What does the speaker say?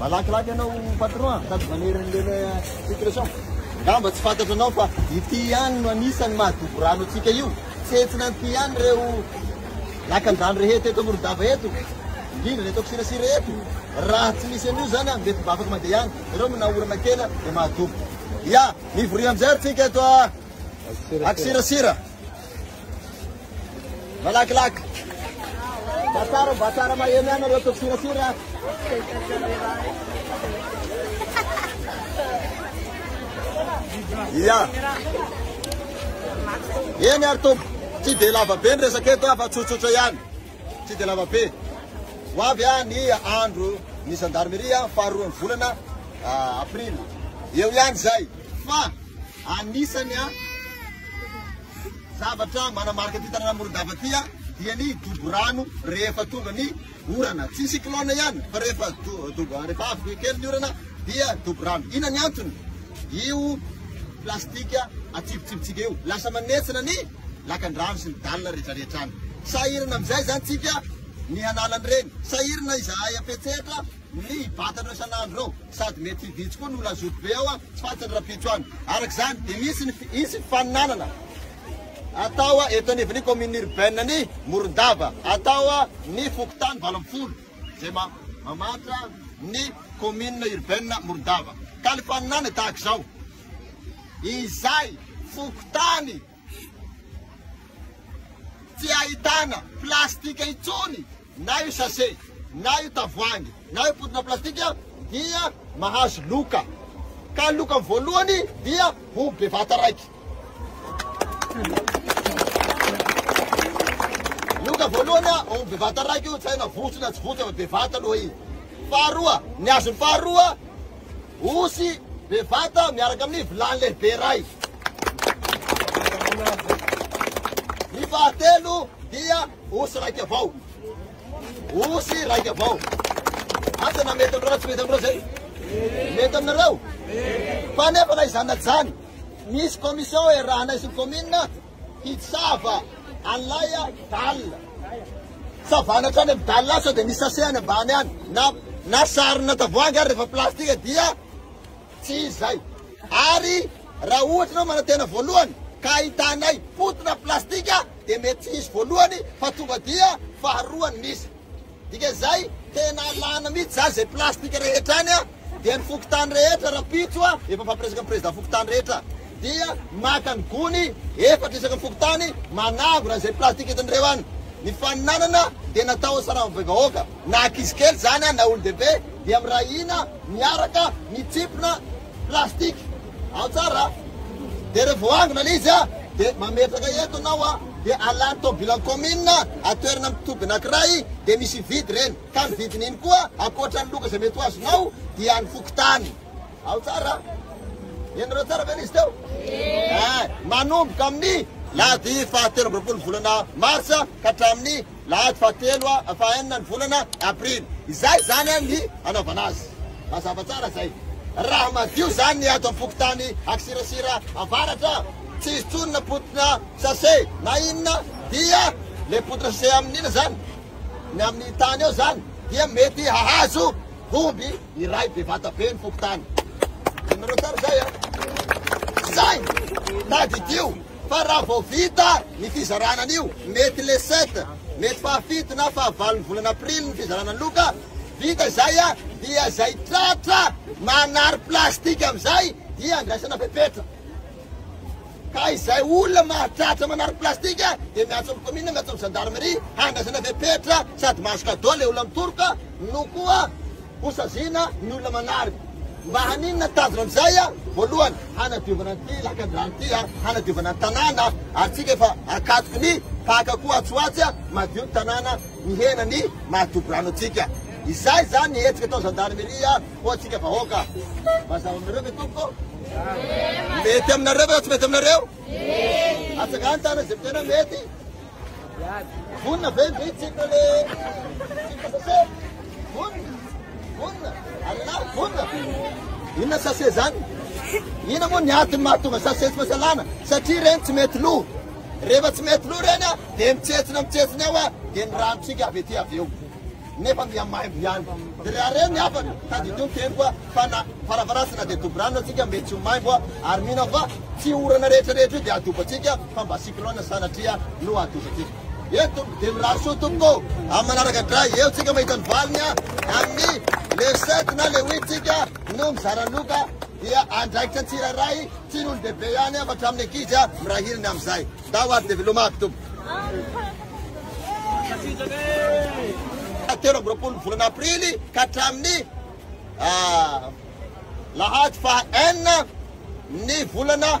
Malakilaky ianao patron a, sady manery an'ilay situation. Ngamba tsy fantatra anao fa ity ihany no anisan'ny mahadobo rano antsika io. Tsentsina an'ity ihany ireo lakandrano rehetra eto Morondava eto, indrindra eto Kisirasira eto. Raha tsy misy an'io zany a, mety mba afaka mandeha ihany. Ianao mna orana kely dia mahadobo. Ya, mivoria amin'izay ary tsika eto a Akisirasira. Malakilaky. Mba tsara, mba tsara maheno ihany nareo tompy sirasira. Ia. Eny ary tompy, tsy dia lava be ny resaka eto afa tsotsotra ihany. Tsy dia lava be. Ho avy ah ny andro ny gendarmerie faharoan'ny volana ah, aprily. Eo ihany izay. Fa Anisany zavatra manamarika ity tanàna Morondava ity dia ny dobo rano rehefa tonga ny orana. Tsy cyclone ihany fa rehefa rehefa avy kely ny orana dia dobo rano. Inona ny antony? Io plastika atsipitsipitsika io. Lasa manetsina ny lakandrano sy ny dalina rehetrarehetra any. Sahirana amin'izay izany tsika ny hanala an'ireny. Sahirana izahay am-petsehatra. ny vatana eo isan'andro eo sady mety vitsy koa ny olona zoto be ao a, tsy fantatry ny rahampitso any. Araka izany dia misy ny hisy ny faninanana atao a eto anivon'ny commune urbaine ny Morondava atao a ny fokontany valo ambin'ny folo izay ma mamaritra ny commune urbaine Morondava ka ny faninanana tahaka izao izay fokontany Tsy ahitana plastika intsony na io sase, na io tavoahangy, na io potona plastika dia mahazo loka. Ka ny lokany voalohany dia ho bevata raiky. Loka voalohany a, ho bevata raiky io, tsy hay na votso na tsy votso, bevata aloha i. Faharoa, ny azony faharoa, osy bevata miaraka amin'ny vilany lehibe iray. Ny fahatelo dia osy raika avao. Osy raika avao. Asa na mety amin'ireo na tsy mety amin'ireo zay. Mety aminareo? Fa nefa na izany na tsy izany, misy commission iarahanay sy ny commune Hitsava an'ilay dalina. Savana hatrany amin'ny dalina sao dia misy sachet any ambany any na na sarina tavoahangy ary rehefa plastika dia tsy izy izay. Ary raha ohatra ianao manantena voalohany ka ahitanay potona plastika dia mety tsy hisy voalohany fa tonga dia faharoa ny misy. Dika zay tena alana mitsy zany zay plastic rehetra any a dia ny fokontany rehetra rapitso a efa fampiresaka ny president fokontany rehetra dia maka ny gony efatra isaky ny fokontany manangona zay plastic entinireo any ny faninanana dia natao ho sarama be vahoaka na akizy kely zany a na olon dehibe dia miray hina miaraka mitsipona Plastic, ao tsara a! Dia rehefa voaangona ilay izy a, dia mametraka eto ianao a, dia alany tobilan'ny kaominina, atoerana amin'ny toby anankiray, dia misy vide ireny, ka ny vidin'iny koa, ankoatra ny loka izay mety ho azonao, dia an'ny fokontany. Ao tsara a! Henonareo tsara ve ilay izy teo? Ee! Manomboka amin'ny lahady fahatelo amby roapolo volana marsa ka hatramin'ny lahady fahatelo fahaenina ny volana aprily izay izany ny hanaovana azy mazava tsara zay raha madio zany ny ato am-pokotany akisirasira avaratra tsy izy tsony na potina sase na inona dia le potina sase amin'ina zany ny amin'ny tany eo zany dia mety hahazo omby iray bevata be ny fokotany inareo tsara zay a zay tadidio fa raha vao vita ny fizarana an'io, mety le sept, mety fahafito na fahavalon'ny volana aprily ny fizarana ny loka, vita izay dia izay tratra manary plastika amin'izay dia andraisana fepetra. Ka izay olona mahatratra manary plastika dia miantso amin'ny commune, miantso amin'ny gendarmerie handraisana fepetra sady mahazo cadeau le olona mitoroka no koa Ho saziana ny olona manarina. Mba haninona tanjona amin'izay? Voalohany, hanadiovana an'ity lakandrano ity, hanadiovana ny tanàna, ary tsika efa akatoky ny mpaka koa atsy ho atsy, madio ny tanàna, mihena ny maha toby rano antsika. Izay izany ny hetsika atao zandarmeria ho antsika vahoaka. Mazava aminareo ve tompoko? Mety aminareo ve tsy mety aminareo? Atsangano tanana izay tena mety. Vonona ve ny vitsika le sase? Vonona? Vonona? Alina vonona? Inona sase zany? Inona moa ny antony mahatonga sase tsy masalana? Satria ireny tsy mety lo. Rehefa tsy mety lo ireny dia mitsetsina mitsetsina eo dia ny ranotsika avy ety avy eo. nefa mihamaivo ihany de reha re ny hafany tadidio ny teniko a fa na varavarasy na de dobo rano atsika mbe tsy ho maimbo a ary mino fa tsy orana rehetra rehetra io de adobo atsika fa mba cyclone sanatria no adobo atsika eo tompoko de mirary soa tompoko amin'ny manaraka dray eo tsika mahita ny valiny a amin'ny le sept na le huit tsika no mizara loka dia andraikitra tsirairay tsy ny olon-dehibe ihany a fa hatramin'ny ankizy a mirahirina amin'izay Ndao ary dia velomako tompoko. Telo amby roapolo ny volana aprily ka hatramin'ny alahady faha enina ny volana